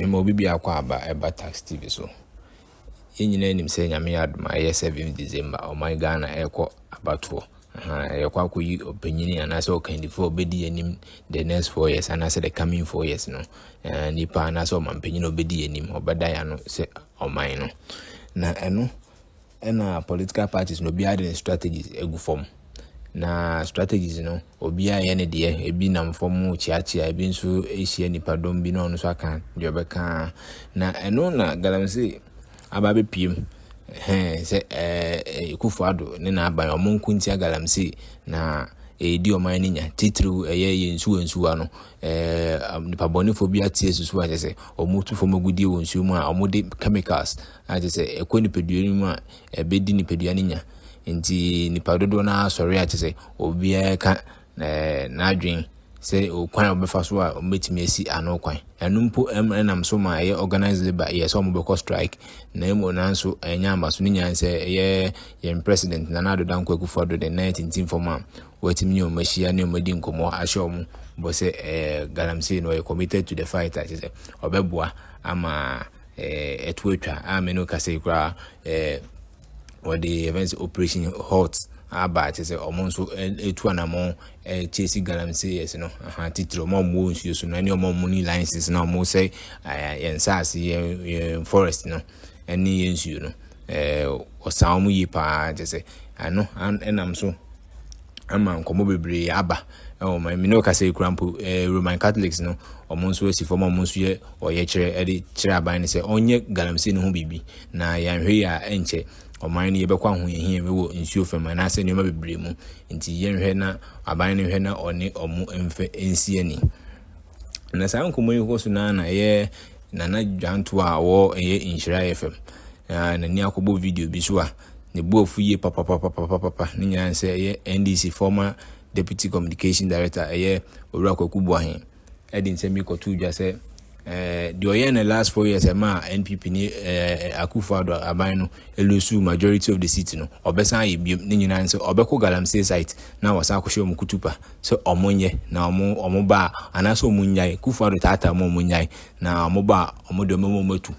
Me ma obi biako aba ɛba tax TV so. Yɛn nyinaa nim sɛ Nyame adom a ɛyɛ seventh December ɔman Ghana ɛkɔ abatoɔ. Yɛkɔ akɔ yi ɔpanyini anaa sɛ ɔkandifoɔ a ɔbɛdi yɛn anim the next four years anaa sɛ the coming four years no. Nipa anaa sɛ ɔmanpanyin a ɔbɛdi yɛn anim, ɔbɛda yɛn ano sɛ ɔman no. Na ɛno ɛna political parties no obiara de ne strategies egu fam na strategies no obiara yɛ ne deɛ ebi nam fam kyeakyea ebi nso ahyia nipadɔm bi na ɔno nso aka deɛ ɔbɛka na ɛno na galamsey aba abɛpiem hɛn sɛ ɛɛ kufu ado ne n'aban ɔmo nko ntia galamsey na ɛredi ɔman no nya titiriw ɛyɛ yɛn nsuwa nsuwa no ɛɛ nipabɔnefoɔ bi ate asusu ayɛ sɛ ɔmo tu fam agudeɛ wɔ nsuo mu a ɔmo de chemicals Ayɛ te sɛ ɛkɔ nipadua no mu a ɛbɛdi nipadua no nya. Nti nipa dodoɔ no ara sɔre a te sɛ obiara ka n'adwene sɛ kwan a wɔbɛfa so a wɔbɛtumi asi ano kwan. Ɛno mpo nam so ma ɛyɛ organized labour yɛ sɛ wɔbɛkɔ strike na mmom nanso ɛnyɛ amba so ne nyinaa sɛ ɛyɛ yɛn president Nana Addo Dankwa Akufo Addo de nan tintim fam a wɔatumi ne wɔn ahyia ne wɔn adi nkɔmmɔ ahyɛ wɔn bɔ sɛ galamsey no ɔyɛ committed to the fight a kyerɛ sɛ ɔbɛboa ama eh, ɛto atwa a me no kasa yi koraa eh, wɔde yɛfɛ sɛ operation hot aba kyɛ sɛ ɔmo nso ɛtu eh, anamɔ eh, kyesi galam se yɛs no aha titiri ɔmo ɔmo wɔ nsuo so no ɛne ɔmo ɔmo ne license na ɔmo sɛ eh, yɛn nsaase yɛn yɛn forest no ɛne yɛn nsuo no ɔsan ɔmo yie paa kyɛ sɛ ano ɛnam so. ama nkɔmmɔ bebree aba wɔ ma me ne ɔkasa yi kura mpo eh, roman catholics no wɔn nso asi fam a wɔn nso yɛ ɔyɛkyerɛ de kyerɛ aban no sɛ ɔnyɛ galamsey no ho biribi na yɛanhwɛ yi a ɛnkyɛ ɔman no yɛbɛkɔ ahohiahia mu wɔ nsuo fam anaasɛ nneɛma bebree mu nti yɛnhwɛ na aban no nhwɛ na ɔne ɔmo mfɛ nsi ani na saa nkɔmmɔ yi kɔ so na na ɛyɛ nana dwanto a ɔwɔ ɛyɛ nhyira fam na n'ani akɔbɔ video bi so a ne bo afu yie papapapapapa ne nyinaa ne sɛ ɛyɛ NDC former deputy communication director ɛyɛ Owura Kwaku Boahen ɛde nsɛm yi kɔto dwa sɛ Eh, deɛ ɔyɛ na last four years ɛma eh, npp ne eh, akufo ado aban no elusu majority of the seat no ɔbɛsan ayɛ biom ne nyinaa nsɛ ɔbɛkɔ galamsey site na wɔsan akɔhyɛ wɔn kutupa sɛ ɔmo nyɛ na ɔmo ɔmo ba a anaasɛ ɔmo nyae kufo ado taataa mu ɔmo nyae na ɔmo ba a ɔmo deɛ ɔmo ɔmo atu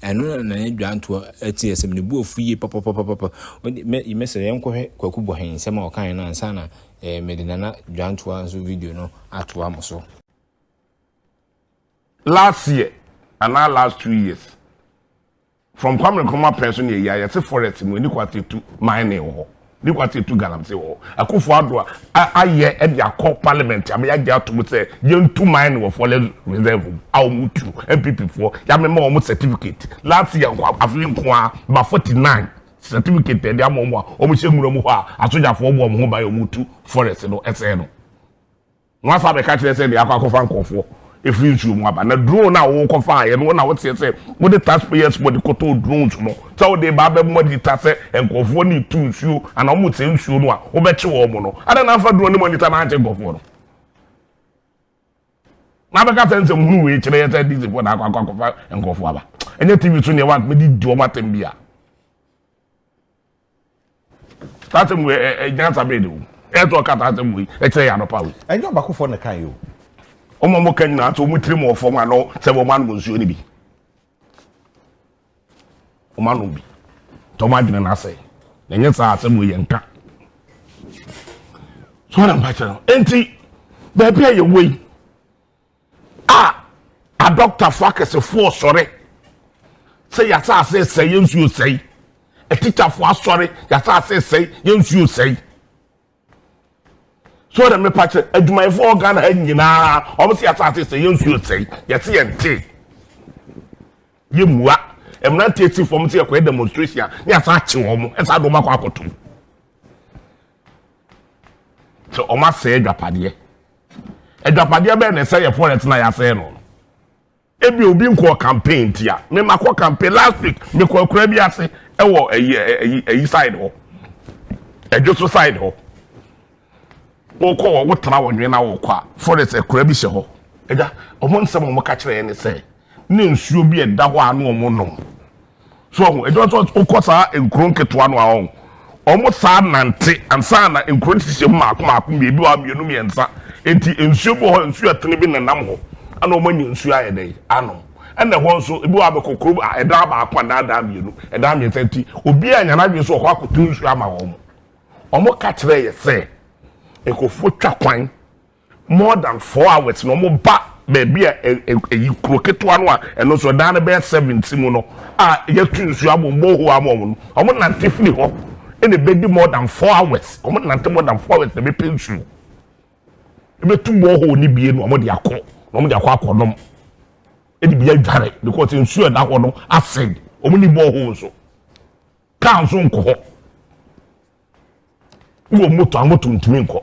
Ɛno na na ne dwantoɔ te yɛ sɛm. Ne bu afu yie papapapapa. Mɛsrɛ yɛnkɔhwɛ Kwaku Bɔhen nsɛm a ɔkaeɛ no ansa na mede Nana Dwantoa nso video no atoa mo so. Last year anaa last two years from Kwame Nkrumah pɛn so ne ɛyi a yɛte forest mu ɛni kwatetu mining wɔ hɔ. Ne kwati etu galamsey wɔ hɔ. Akuffo Addo a ayɛ de akɔ parliament ama yɛagye atom sɛ yɛntu mine wɔ Folex reserve mu a wɔn tu. NPP foɔ yɛamema wɔn certificate last year nko a, afei nko ara ba forty nine certificate na yɛde ama wɔn a wɔhyɛ nwura mu hɔ a asogyafoɔ bɔ wɔn ho ban a wɔtu forest no sɛe no. Wɔn afa abɛka kyerɛ sɛ deɛ akɔ akɔfa nkorɔfoɔ ɛfiri nsuo mu aba. Na drone a wokɔ faeɛ no, wo na woteɛ sɛ wode taxpayers money kɔtɔɔ drones no sɛ wode reba abɛbɔ anita sɛ nkorɔfoɔ no retu nsuo anaa wɔn resɛe nsuo no a wobɛkye wɔn no. Adɛn na amfa drone ne monita no ankye nkorɔfoɔ no? Na abɛka sɛ nsɛmhunu wei kyerɛ yɛ sɛ DCfoɔ na akɔ akɔ akɔfa nkorɔfoɔ aba. Ɛnyɛ TV so neɛ wɔn mede di wɔn atɛm bi a. Tata mu ɛ ɛ nyansa bɛyɛ de wom ɛyɛ sɛ ɔka tata mu yi ɛkyerɛ yɛ anɔpa wei. Ɛnyɛ ɔbakofoɔ na kan yi o. Wɔn a wɔn ka nyinaa sɛ wɔn tiri mu wɔ fam a na sɛ wɔn anom nsuo no bi. Wɔn anom bi. Tɔ wɔn adwene no asɛe. Na ɛnyɛ saa asɛm wei yɛ nka. So wɔn na mpakyɛ no. Enti baabi a yɛwɔ yi. A Adɔktafo akɛsefo resɔre sɛ yɛn asase resɛe, yɛn nsu resɛe. Atikyafo asɔre, yɛn asase resɛe, yɛn nsu resɛe. So na mepa kyɛ, adwumayɛfo wɔ Ghana ha nyinaa, wɔn sɛ yɛn asase resɛe, yɛn nsu resɛe. Yɛse yɛn te, yɛn mua. Mmeranteɛ si fam sɛ yɛkɔyɛ demonstration a, ne yɛsan akye wɔn, ɛsan de wɔn akɔ akɔtom. Sɛ wɔn asɛe adwapadeɛ. Adwapadeɛ bɛyɛ na ɛsɛ yɛ forest na yɛasɛe no. Ebi obi nkɔɔ campaign ntia. Mema kɔ campaign last week mekɔ akura bi ase ɛwɔ ayi ayi ayi side hɔ. Ɛdwo so side hɔ. Wokɔ wɔ wotena wɔ nwene na wokɔ a forest akura bi hyɛ hɔ. Ɛgya wɔn nsɛm wɔn ka kyerɛ yɛn ne sɛ ne nsuo bi ɛda hɔ a na wɔn nom. So ɔho ɛdwuma nso wokɔ saa nkuro nketewa no a ɔho wɔn saa nante ansa na nkuro no hyehyɛ mu mako mako mmienu a mmienu mmiɛnsa eti nsuo bi wɔ hɔ nsuo ɛtene bi nenam hɔ ɛna wɔn anya nsuo ayɛ dɛ anom ɛna ɛhɔ nso ebi wɔ abɛkɔ kuro ɛdan baako anaa ɛdan mmienu ɛdan mmiɛnsa nti obi a nyana adwene so wɔ hɔ akoto nsuo ama wɔn wɔn ka kyerɛ yɛ sɛ nkurɔfoɔ twa kwan. More than four hours na wɔn ba baabi a ɛyi kuro ketewa no a ɛno nso ɛdan no bɛyɛ seven si mu no a yɛtu nsuo abɔ mu borehole ama wɔn no wɔn nante firi hɔ na ɛbɛdi more than four hours wɔn nante more than four hours na ɛbɛpɛ nsuo ɛbɛtu borehole no bie na wɔn de akɔ na wɔn de akɔ akɔ nom ɛde bi adware because nsuo ɛda hɔ no acid wɔn ni borehole nso kaa nso nkɔ hɔ. wowɔ moto a moto ntumi nkɔ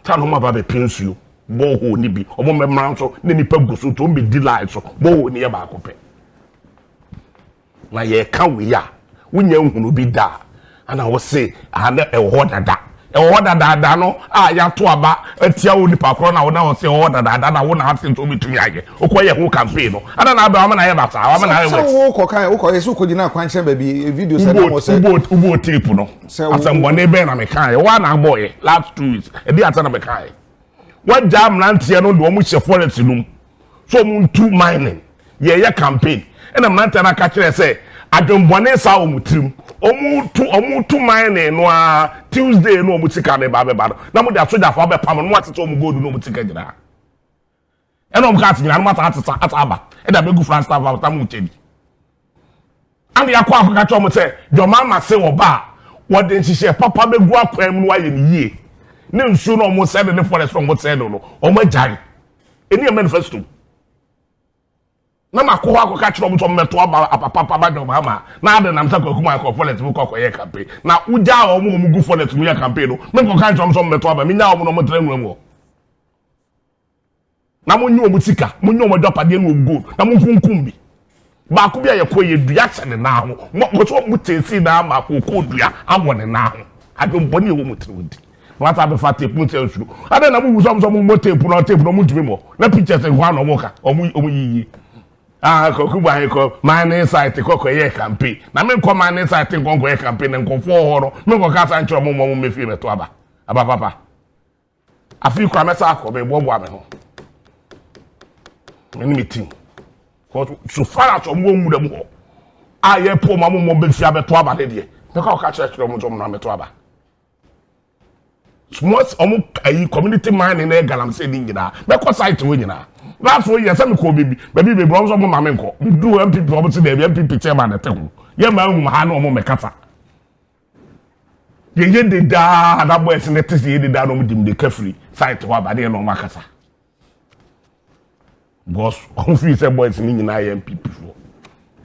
ta na ɔma ba bɛpɛ nsuo bɔɔhoo no bi ɔmo mmɛmmra nso ne nipa gu so nti ɔmo bɛdi line so bɔɔhoo no yɛ baako pɛ na yɛka wei a wonya nhunu bi da a ana wose ana ɛwɔ hɔ dada Ɛwɔ hɔ dadaada no a yɛato aba atia wo nipa korɔ no a wona ɔse ɛwɔ hɔ dadaada na wona ase nso wobɛtumi ayɛ wokɔ yɛ ho campaign no adɛn na abɛ wama no ayɛ ba saa wama no ayɛ worse. Sɛ wo kɔ kan wokɔ yɛ sɛ wokɔ gyina akwankyɛn baabi video sɛ nam ɔsɛ. Wobɔɔ tape no asɛmbɔne bɛn na me kaa yɛ woa na abɔɔ yɛ last two weeks ɛdeɛ ansa na me kaa yɛ wagyaa mmeranteɛ no de wɔn hyɛ forest no mu. sɛ wɔn ntu mining yɛyɛ campaign ɛna mmeranteɛ no aka kyerɛ sɛ adwembɔne saa wɔ wɔn tirim wɔn tu wɔn tu mining no ara tuesday no wɔn sika no ba abɛba no na wɔn de asogyafoɔ abɛpam no wɔn atete wɔn gold no wɔn sika nyinaa ɛna wɔn kaa ase nyinaa no wɔn asa atesa asa aba ɛde abɛgu flagstaff aba tam wɔn kyɛ bi. Ɛnna Yakob akɔka kyerɛ wɔn sɛ, Deɛ ɔmaama se wɔba a, wɔde nhyehyɛɛ papa bɛgu akwan mu na wɔayɛ no yie. Ne nsuo na wɔsɛe no, ne forest na wɔsɛe no no, wɔagyae. Ɛni yɛ manifesto. Na makɔ hɔ akɔka kyerɛ wɔn sɛ wɔmmɛto aba apapapa ba deɛ ɔmaama na ade nam sɛ kwaku ma akɔ forest mu kɔ akɔyɛ campaign. Na wogyaa wɔn a wɔgu forest mu yɛ campaign no, menkɔka nkyerɛ wɔn sɛ wɔmmɛto aba, menyaa wɔn na wɔtra nwura mu hɔ. na monyi wɔn sika, monyi wɔn agyapadeɛ ne wɔn gold, na monkunkum bi. Baako bi a yɛkɔ yɛ dua hyɛ ne nan ho, wɔsɛ wɔn mo kyɛnsee na ama wɔkɔɔ dua awɔ ne nan ho. Adwembɔne ɛwɔ mo tiri nti. Na wɔasa abɛfa tape mu sɛ nsuro. Adɛn na mowu sɛ wɔn sɛ wɔn mmɔ tape no, tape no wɔn ntumi mmɔ. Na pictures nkwa na wɔn ka, wɔn wɔn yiyi. Ah, kɔkɔ bu ahe kɔ mining site kɔkɔ yɛ campaign. Na me nkɔ mining site nkɔ nkɔ yɛ campaign na nkɔfoɔ hɔ no, me nkɔ kasa nkyerɛ wɔn wɔn mmɛfie bɛto aba. Aba papa. Afei koraa mɛsan akɔ meboaboa me ho me ne me team so far as ɔmo wɔ nwura mu hɔ a yɛ po ɔmo ɔmo bɛfi abɛto aba ne deɛ mɛkɔ akɔka kyerɛ kyerɛ ɔmo nso ɔmo na mɛto aba once ɔmo ayi community mining na yɛ galamsey ne nyinaa mɛkɔ site wɔ nyinaa last wɔ yɛ sɛ mekɔ beebi beebi beebi ɔmo nso ɔmo ma me nkɔ meduru npp ɔmo si dɛbi npp chairman ɛte ho yɛ maa nhum ha na ɔmo mɛkasa. Yɛyɛ de daa na boys no te sɛ yɛ de daa na wɔn de mmirika firi site hɔ aba ne yɛ na wɔn akasa because wɔn firi sɛ boys no nyinaa yɛ npp foɔ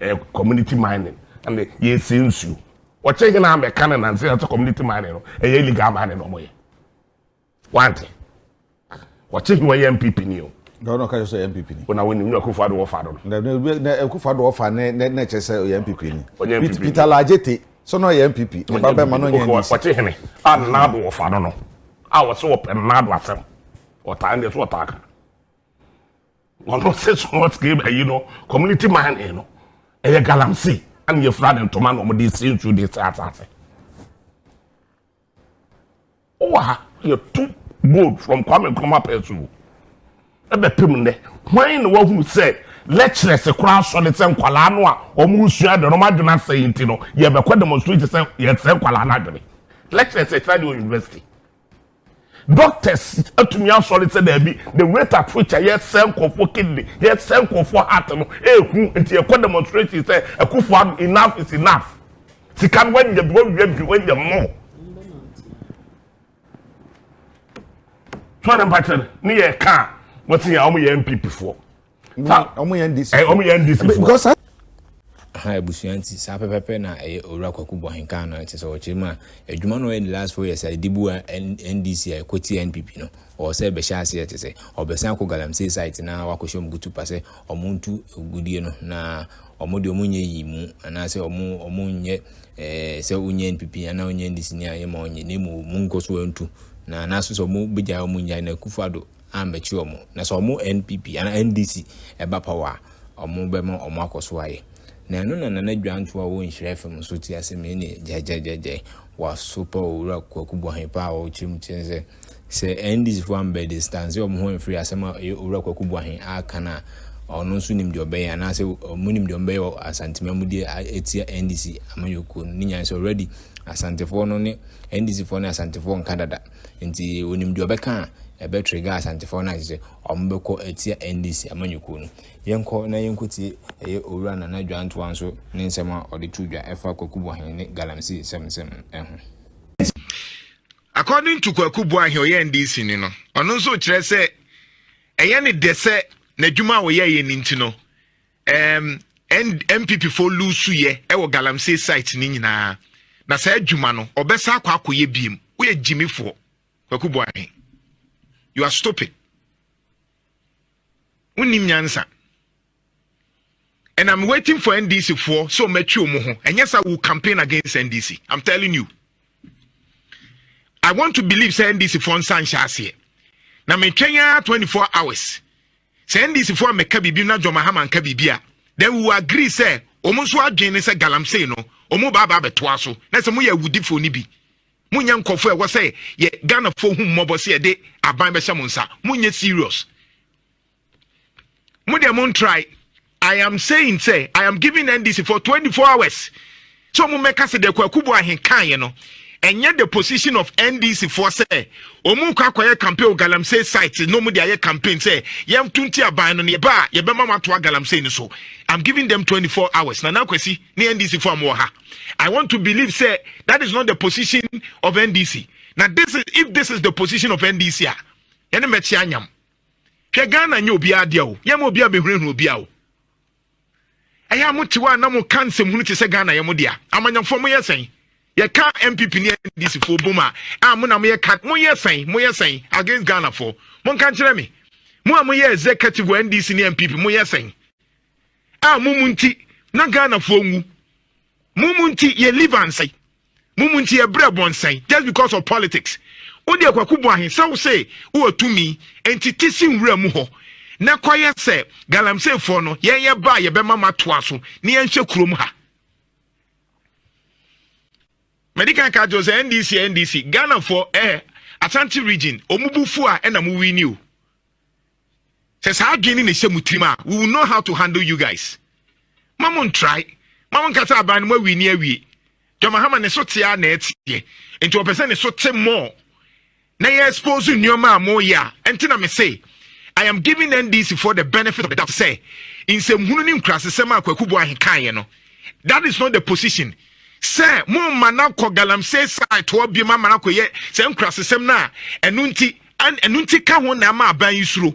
ɛyɛ eh, community mining ɛna yɛsɛ nsuo wɔkyɛ nyinaa mɛka no nansi ɛsɛ community mining no ɛyɛ illegal mining na wɔn yɛ. Wante. Wɔte he wɔyɛ MPP ni o. Na ɔno ɔka sɛ MPP ni. Ona wɔnim na Akufo Addo wɔfa do no. Na na Akufo Addo wɔfa ne ne ne kyɛ sɛ ɔyɛ MPP ni. Ɔnyɛ MPP. Peter Lajete sɛ na ɔyɛ MPP. Ne ba bɛma no nyɛ NDC. Wɔte hene a Nana Addo wɔfa do no. A wɔsɛ wɔpɛ Nana Addo asɛm. Wɔtaa ɛndeɛ so wɔtaa ka. Wɔno sɛ small scale ayi no community mining no. Ɛyɛ galamsey. Ɛne yɛfura ne ntoma na wɔde si nsuo de sɛ asase. Wo wɔ ha yɛ to gold from Kwame Nkrumah pɛɛ so o. Ɛbɛ pem nnɛ. Hwan na wahunu sɛ lecturers koraa sɔre sɛ nkwalaa no a wɔn resua ade no wɔn adwene asɛe nti no yɛbɛkɔ demonstrate sɛ yɛsɛe nkwalaa no adwene. Lecturers ɛkyerɛ ade wɔ university. Doctors atumi asɔre sɛ daabi the rate at which a yɛsɛe nkurɔfoɔ kidney yɛsɛe nkurɔfoɔ heart no ɛɛhu nti yɛkɔ demonstrate sɛ akufo ado enough is enough. sika no wanya bi wawia bi wanya mmɔ sɔre mpakyɛ no ne yɛ ka a wɔte yɛ a wɔn yɛ npp foɔ wɔn yɛ ndc foɔ wɔn yɛ ndc foɔ ha abusua nti saa pɛpɛpɛ na ɛyɛ owura kwaku bɔhenka no ɛte sɛ ɔkyerɛ mu a adwuma no ɛyɛ the last four years a ɛde bu a ndc a ɛkɔti npp no ɔwɔ sɛ ɛbɛhyɛ aseɛ te sɛ ɔbɛsan akɔ galamsey site na wakɔhyɛ mu gutu pa sɛ Wɔntu agudeɛ no, na wɔn deɛ wɔnyɛ yii mu, anaasɛ wɔn wɔnyɛ ɛɛ sɛ wɔnyɛ npp anaa wɔnyɛ ndc ni a yɛma wɔnyɛ na emu wɔn nkɔ so ntu na anaso sɛ wɔn bɛgya wɔn nya na Akufo-Addo ambɛkye wɔn na sɛ wɔn npp anaa ndc ɛba power a wɔn bɛma wɔn akɔ so ayɛ na ɛno na Nana Dwanto a ɔwɔ Nhyira FM nso te ase me ne gyagyagyagyɛ waso pa owura Kwaku Boahepa a ɔkyerɛ mu kyerɛ sɛ Sɛ NDC foɔ ammɛ distanse wɔn ho amfiri asɛm a Owura Kwaku Boahen aka no a, ɔno nso nim deɛ ɔbɛyɛ anaasɛ wɔn nim deɛ wɔn bɛyɛ wɔ Asante Mamudeɛ a ɛtia NDC amanyɔkuo no. Ne nyinaa sɛ already Asantefoɔ no ne NDC foɔ ne Asantefoɔ nka dada. Nti wɔnim deɛ ɔbɛka a ɛbɛ trigger Asantefoɔ no a kyerɛ sɛ wɔn bɛkɔ atia NDC amanyɔkuo no. Yɛnkɔ na yɛnkɔtie ɛyɛ Owura Nana Dwantoa nso ne nsɛm a ɔde to dwa ɛfa Kwaku Boahen ne Galamsey nsɛm nsɛm ho. According to Kwaku Boahe ɔyɛ NDC ni no, ɔno nso kyerɛ sɛ ɛyɛ ne dɛ sɛ n'adwuma a ɔyɛ yɛ ne nti no um, NPP fo lusu yɛ ɛwɔ galamsey site ne nyinaa na saa adwuma no ɔbɛsa akɔ akɔyɛ biem woyɛ gyimifoɔ Kwaku Boahe you are stupid wonim nyansa and i'm waiting for ndc foɔ sɛ ɔmo atwi ɔmo ho ɛnyɛ sa wo campaign against ndc i'm telling you i want to believe sɛ ndc foɔ nsa nhyɛ aseɛ na metwɛn ara 24 hours sɛ ndc foɔ mɛka biribi na john mahama nka biribi a then we will agree sɛ ɔmo nso adwene ne sɛ galamsey no ɔmo baaba abɛtoa so na sɛ mo yɛ awudifoɔ no bi mo nyɛ nkɔfoɔ ɛwɔ sɛ yɛ ghanafoɔ hu mmɔbɔ sɛ yɛde aban bɛhyɛ mo nsa mo nyɛ serious mo deɛ mo n try i am saying sɛ i am giving ndc for twenty four hours so wɔn mmɛka sɛ deɛ kwaku bu ahen kan yɛ no ɛnyɛ the position of ndc foɔ sɛ wɔn kɔ akɔyɛ campaign galamsey site na wɔn de ayɛ campaign sɛ yɛn to nti aban no yɛ ba a yɛbɛma wɔn ato agalamsey no so i'm giving them twenty four hours na n'akwasi ne ndc foɔ a wɔwɔ ha i want to believe sɛ that is not the position of ndc na this is if this is the position of ndc a yɛn ne mɛkyi anyam. hwɛ ghana nyɛ obiara deɛ o yɛma obiara bɛhunahuna obiara o ɛyɛ a mote hɔ a na moka nsɛmhunu te sɛ ghana yɛ mo dea amanyafoɔ moyɛ sɛn yɛka mpp ne ndc foɔ bom a a mo na moyɛ ka moyɛ sɛn moyɛ sɛn against ghana foɔ monka nkyerɛ me mo a moyɛ executive wɔ ndc ne mpp moyɛ sɛn a mo mu nti na ghana foɔ nwu mo mu nti yɛ live anse Mo mu nti yɛbrɛ bɔ nsɛn just because of politics. Wo deɛ kwaku bɔ ahe sɛ wo se wowɔ tumi nti te si nwura mu hɔ na kɔyɛ sɛ galamsey foɔ no yɛn yɛ ba a yɛbɛma mo atoa so ne yɛn hwɛ kurom ha. Madi kan ka kyerɛ sɛ NDC NDC Ghana foɔ eh Asante region ɔmo bu fu a ɛna mo wini o. sɛ saa adwene no na ɛhyɛ mo tirim a we will know how to handle you guys ma mo ntrae ma mo nkasa aban no mo awie ni awie dwamahama ne so tea na ɛteɛ nti ɔpɛ sɛ ne so te mmɔɔ na yɛ expose nneɛma a moyɛ a ɛnti na mese i am giving ndc for the benefit of the doubt sɛ nsɛmhunu ne nkurasesɛm a kwaku bo ahe kaeɛ no that is not the position sɛ momma no akɔ galamsey side toɔ biom ama no akɔyɛ sɛ nkurasesɛm no a ɛno nti An ɛno nti ka ho na ɛma aban yi suro.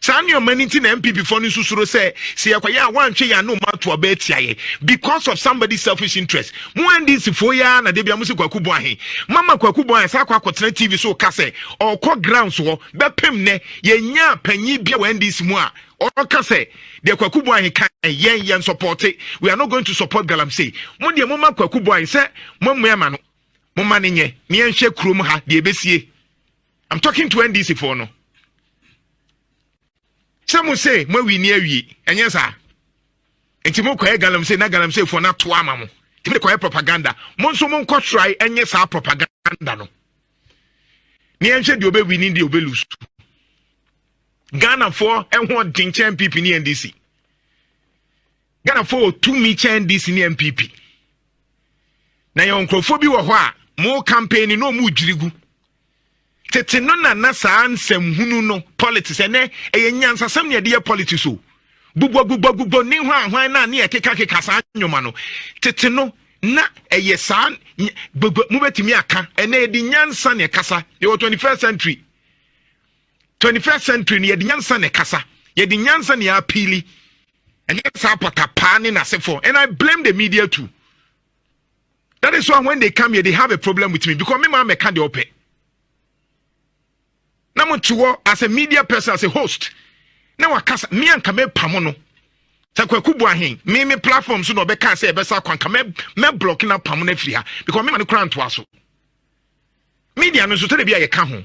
Saa nneɛma no nti na NPP fo no nso suro sɛ sɛ yɛkɔyɛ a wɔantwe yɛn ano mma ato aba atia yɛn because of somebody selfish interest. Mo NDC foɔ yi ara na da bi a mo si Kwaku Bɔn ahe. Mama Kwaku Bɔn ahe saa akɔ akɔtena TV so reka sɛ ɔrekɔ grounds hɔ bɛpem nnɛ yɛnyaa panyin bi wɔ NDC mu a ɔka sɛ deɛ Kwaku Bɔn ahe ka yɛn yɛn sɔpɔte we are not going to support Galamsey. Mo deɛ moma Kwaku Bɔn ahe sɛ moammua ma no. mo ma ne nyɛ ne yɛnhwɛ kurom ha deɛ ɛbɛsie i'm talking to ndc foɔ no sɛ mo se moawi ne awie ɛnyɛ saa nti mokɔyɛ galamsey na galamsey foɔ no atoa ama mo nti mode kɔyɛ propaganda mo nso monkɔ trae ɛnyɛ saa propaganda no ne yɛnhwɛ deɛ ɔbɛwi ne deɛ ɔbɛlusu ghanafoɔ ɛho ɔden kyɛn pp ne ndc Ghana foɔ wɔ tumi kyɛn NDC ne NPP. Na yɛwɔ nkurɔfoɔ bi wɔ hɔ a mo campaign no ɔmo dwiri gu. Tete no na na saa nsɛm hunu no politics ɛnɛ ɛyɛ nyansasɛm ne ɛde yɛ politics o. Gbugbɔ gbugbɔ gbugbɔ ne hwan hwan na ne ɛkeka keka saa nnwoma no. Tete no na ɛyɛ saa gbogbo mobɛtumi aka ɛnna yɛde nyansa na ɛkasa yɛwɔ 21st century 21st century no yɛde nyansa na ɛkasa yɛde nyansa na yɛapiili ɛnyɛ saa pɔtapaa ne n'asefoɔ and i blame the media too that is why when they come here they have a problem with me because me maa mɛka deɛ ɔpɛ na mo te hɔ as a media person as a host na wakasa me anka mɛpamo no sɛ kwaku bu ahen me me platform so na ɔbɛka sɛ ɛbɛsa kwan ka mɛ block na pamo no afiri ha because me ma no kora ntoa so media no nso sɛdeɛ bi a yɛka ho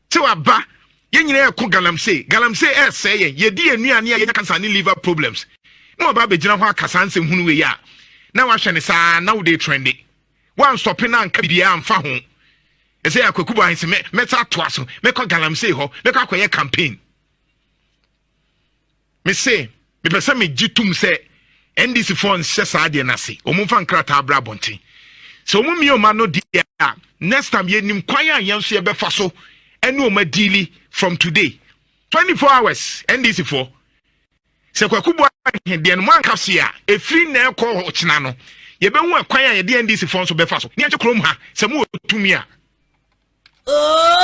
te waba yɛn nyinaa ɛko galamsey galamsey ɛsɛe yɛn yɛdi yɛn nnuane a yɛnya cancer ne liver problems na waba abɛgyina hɔ aka saa nsɛm hunu wei a na wahwɛ ne saa na wode trende wansɔpe na anka biara amfa ho ɛsɛ yɛ akwakubo ahese mɛsa atoa so mɛkɔ galamsey hɔ mɛkɔ akɔyɛ campaign Me se, mepɛ sɛ me gye tom sɛ NDC foɔ nhyɛ saa deɛ no ase. Wɔn mfa nkrataa bra abɔnten. Sɛ wɔn mmie wɔn ano deɛ a, next time yɛnim kwan a yɛn nso yɛbɛfa so ɛne wɔn adiili from today. 24 hours NDC foɔ. Sɛ kwaku bɔ ahe deɛ no mo anka se a, ɛfiri na ɛkɔ ɔkyena no. Yɛbɛhu ɛkwan a yɛde NDC foɔ nso bɛfa so. Ne yɛnkyɛ kurom ha sɛ mo wɔ tumi a. Oh!